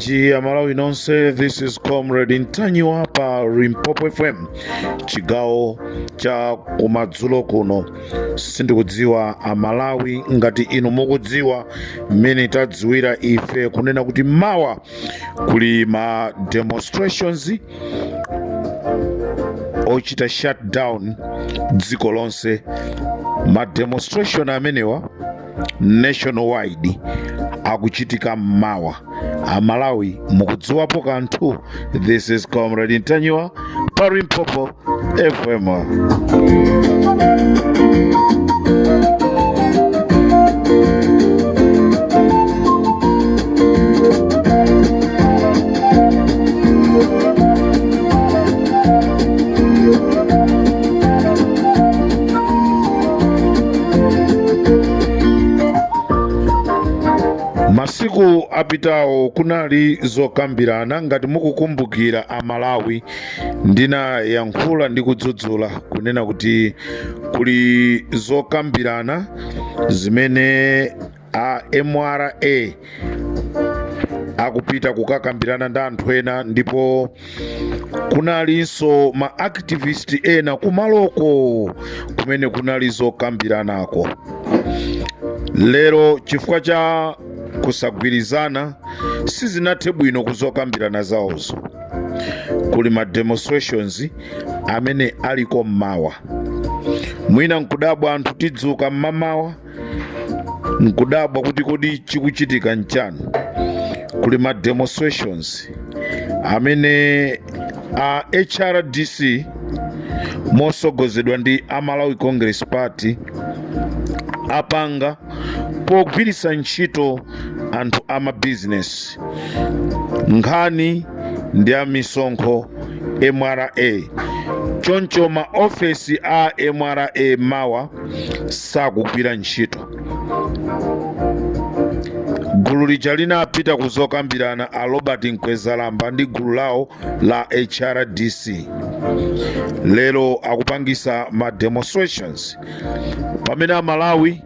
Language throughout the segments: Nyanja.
Chi Amalawi nonse, this is Comrade Ntanyiwa pa Limpopo FM chigawo cha kumadzulo kuno. Sindikudziwa Amalawi ngati inu mukudziwa mmene tadziwira ife kunena kuti mawa kuli ma demonstrations ochita shutdown dziko lonse. Ma demonstration amenewa nationwide akuchitika mmawa amalawi mukudziwapo kanthu this is comrade ntanyiwa pa limpopo fm masiku apitawo kunali zokambirana ngati mukukumbukira amalawi ndinayankhula ndi kudzudzula kunena kuti kuli zokambirana zimene a mra akupita kukakambirana ndi anthu ena ndipo kunalinso ma activist ena kumaloko kumene kunali zokambiranako lero chifukwa cha kusagwirizana sizinathe bwino kuzokambirana zawozo kuli ma demonstrations amene aliko mmawa mwina nkudabwa anthu tidzuka mmamawa nkudabwa kuti kodi chikuchitika nchani kuli ma demonstrations amene a hrdc mosogozedwa ndi a malawi congress party apanga pogwiritsa ntchito anthu a mabizinesi nkhani ndi a misonkho mra choncho ma ofesi a mra mawa sakugwira ntchito gulu lija linapita kuzokambirana a robert mkwezalamba ndi gulu lawo la hrdc lero akupangisa ma demonstrations pamene amalawi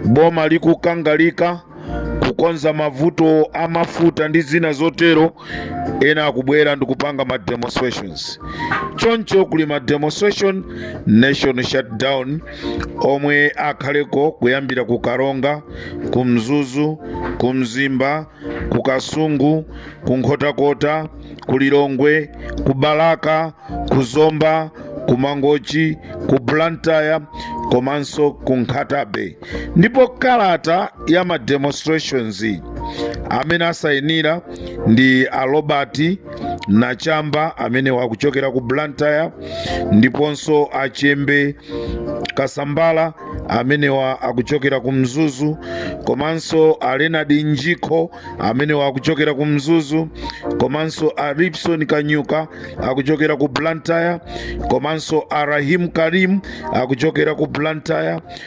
boma likukangalika kukonza mavuto a mafuta ndi zina zotero ena akubwera ndikupanga ma demonstrations choncho kuli ma demonstration nation shutdown omwe akhaleko kuyambira ku karonga ku mzuzu ku mzimba ku kasungu ku nkhotakota ku lilongwe ku balaka ku zomba ku mangochi ku blantyre komanso ku nkhata bay ndipo kalata ya ma demonstrations amene asayinira ndi a robert nachamba amenewa akuchokera ku blantyre ndiponso a chembe kasambala amenewa akuchokera ku mzuzu komanso a leonard njikho amenewa akuchokera ku mzuzu komanso a ripson kanyuka akuchokera ku blantyre komanso a rahim karim akuchokera ku blantyre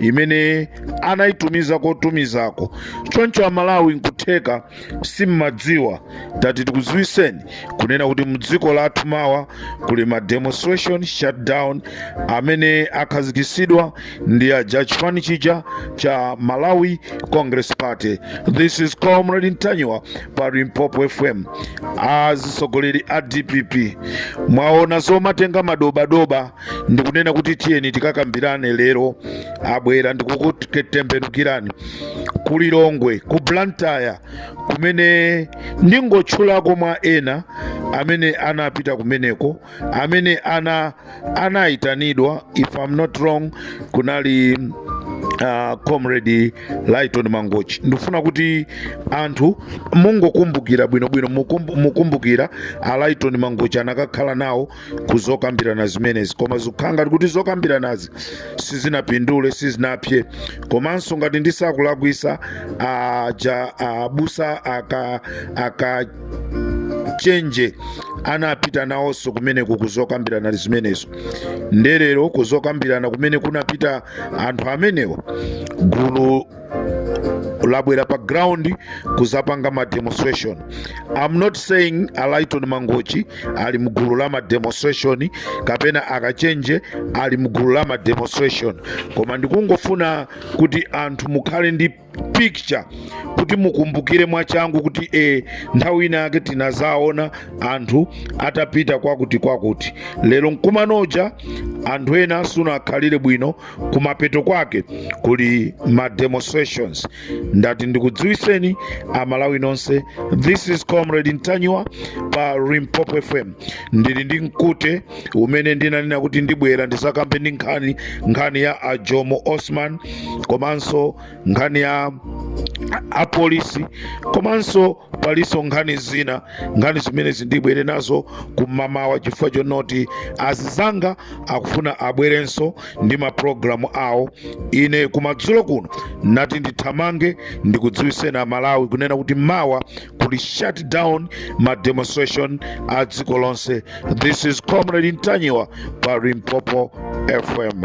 imene anayitumiza kotumizako choncho amalawi nkutheka simmadziwa tati tikuziwiseni kunena kuti mdziko lathu mawa kuli ma demonstration shutdown amene akhazikisidwa ndi aja chipani chija cha malawi congress party this is comrade ntanyiwa pa limpopo fm azitsogoleri a dpp mwaona zomatenga madobadoba ndikunena kuti tiyeni tikakambirane lero abwera ndikukutembenukirani ku lilongwe ku blantyre kumene ndingotchulako mwa ena amene anapita kumeneko amene anayitanidwa if i'm not wrong kunali uh, comrade lighton mangochi ndikufuna kuti anthu mungokumbukira bwinobwino mukumbu- mukumbukira a lighton mangochi anakakhala nawo ku zokambirana zimenezi koma zikukhala ngati kuti zokambiranazi sizinapindule sizinapse komanso ngati ndisakulakwisa aja abusa aka aka chenje anapita nawonso kumeneko kuzokambirana zimenezo nde lero kuzokambirana kumene kunapita anthu amenewo gulu labwera pa ground kuzapanga ma demonstration i'm not saying a lighton mangochi ali mgulu la ma demonstration kapena akachenje ali mgulu la ma demonstration koma ndikungofuna kuti anthu mukhale ndi picture kuti mukumbukire mwachangu kuti e nthawi ina yake tinazaona anthu atapita kwakuti kwakuti lero mkumanoja anthu ena sunakhalire bwino kumapeto kwake kuli ma demonstrations ndati ndikudziwiseni amalawi nonse this is comrade ntanyiwa pa limpopo fm ndili ndi mkute umene ndinanena kuti ndibwera ndizakambe ndi nkhani nkhani ya a jomo osman komanso nkhani ya apolisi komanso palinso nkhani zina nkhani zimenezi ndibwere nazo kumamawa chifukwa chonoti azizanga akufuna abwerenso ndi maprogramu awo ine kumadzulo kuno nati ndithamange ndikudziwiseni amalawi kunena kuti mawa kuli shut down ma demonstration a dziko lonse this is comrade ntanyiwa pa limpopo fm